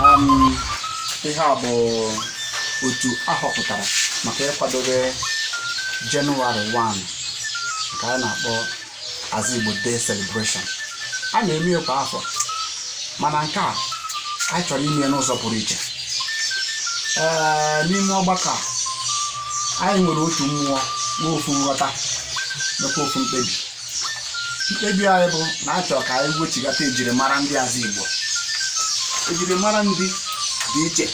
um, ihe a bụ otu a họpụtara maka ịkwadobe Jenụwarị 1 nke a na-akpọ Azigbo Day Celebration a na-eme ya kwa ahọ mana nke a anyị chọrọ ime ya n'ụzọ pụrụ iche ee n'ime ọgbakọ a anyị nwere otu mmụọ nwe ofu nghọta nakwa ofu mkpebi mkpebi anyị bụ na a chọrọ ka anyị wechigata ejirimara ndị Azigbo ejirimara ndị dị iche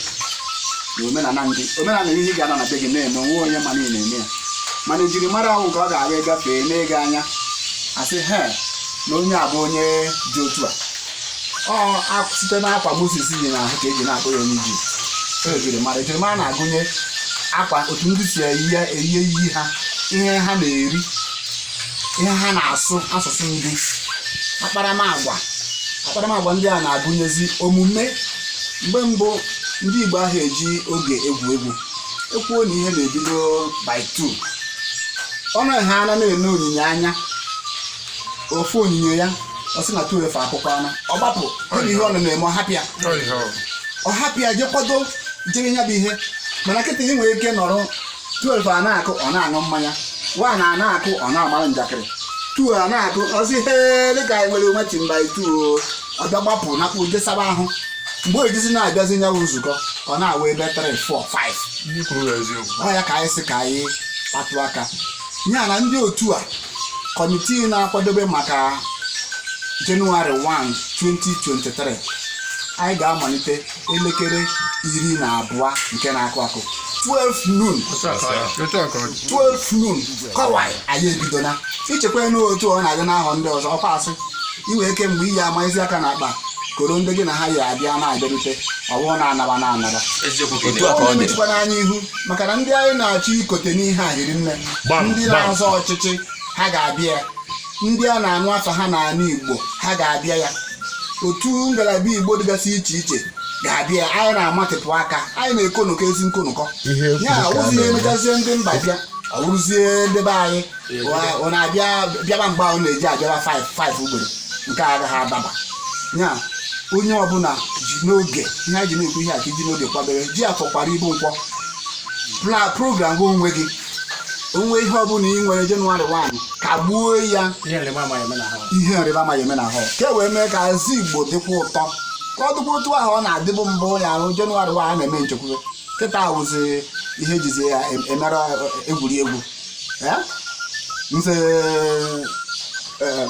na omenala ndị omenala ihe ị ga-anọ na be gị na-eme onwe onye ma na ị na-eme ya mana ejirimara wụ nke ọ ga-aga ịgafee e nee gị anya a sị he na onye a bụ onye dị otu a ọ a- site n'akwa Moses yi n'ahụ ka e ji na-akpọ ya onye Ijipt e ejirimara ejirimara na-agụnye akwa otu ndị si eyi ya eyi eyi ha ihe ha na-eri ihe ha na-asụ asụsụ ndị akparamagwa akparamagwa ndị a na-agụnyezi omume mgbe mbụ ndị Igbo aha eji oge egwu egwu e kwuo na ihe na-ebido by two ọnụ ha ana na-ene onyinyo anya ọ fụ onyinyo ya ọ sị na two efe akụkọ ọnụ ọ gbapụ gịnị ihe ọ nọ na-eme ọ hapịa ọ hapịa je kwado jere ya bụ ihe mana kịta ị nwere ike nọrọ 12 a na-akụ ọ na-aṅụ mmanya 1 a na-akụ ọ na-amara njakịrị 2 a na-akụ ọ sị he dịka anyị nwere meeting by 2 ọ bịa gbapụ napụ je saba ahụ mgbe o jizi na-abịazi na ya wụ nzukọ ọ na-awụ ebe 3 4 5 ndị kwuru bụ eziokwu ọ ya ka anyị sị ka anyị kpatụ aka ya na ndị otu a kọmitii na-akwadobe maka Jenụwarị 1 2023 anyị ga-amalite elekere iri na abụọ nke na-akụ akụ 12 noon 12 noon ka ọ wụ anyị ebidola echekwana otu ọ na-adị n'ahọ ndị ọzọ ọkwa a sị ị nwee ike mgbe ị ya-amaezi aka n'akpa koro ndị gị na ha ya-abịa na-abịarute ọ wụ a na-anaba na-anaba ọ na-emechukwa anyị ihu maka na ndị anyị na-achọ ikote n'ihe a hiri nne ndị na-azọ ọchịchị ha ga-abịa ndị a na-anụ afa ha n'ala Igbo ha ga-abịa ya otu ngalaba Igbo dịgasị iche iche ga-abịa anyị na-amatịpụ aka anyị na-ekonụkọ ezi nkonụkọ ya awụzi ihe e mechazie ndị mba bịa ọ wụrụzie ndị be anyị ọ na-abịa bịaba mgbe ha na-eji abịaba 5 ugboro nke a agaghị adaba ya onye ọbụla ji n'oge ihe anyị ji na-ekwu ihe a ka i ji n'oge kwadebe ji Afọ kwara ibu Nkwọ program gị onwe gị onwe ihe ọbụla ị nwere Jenụwarị 1 kagbuo ya ihe nrịba ama ya eme n'ahọ ihe nrịba ama ya eme n'ahọ ka e wee mee ka Azigbo dịkwa ụtọ ka ọ dịkwa otu ahụ ọ na-adịbụ mbụ ya wụ Jenụwarị 1 a na-eme nchekwube kịta awụzi ihe e jizi ya em- emere egwuregwu Eh? nze eh,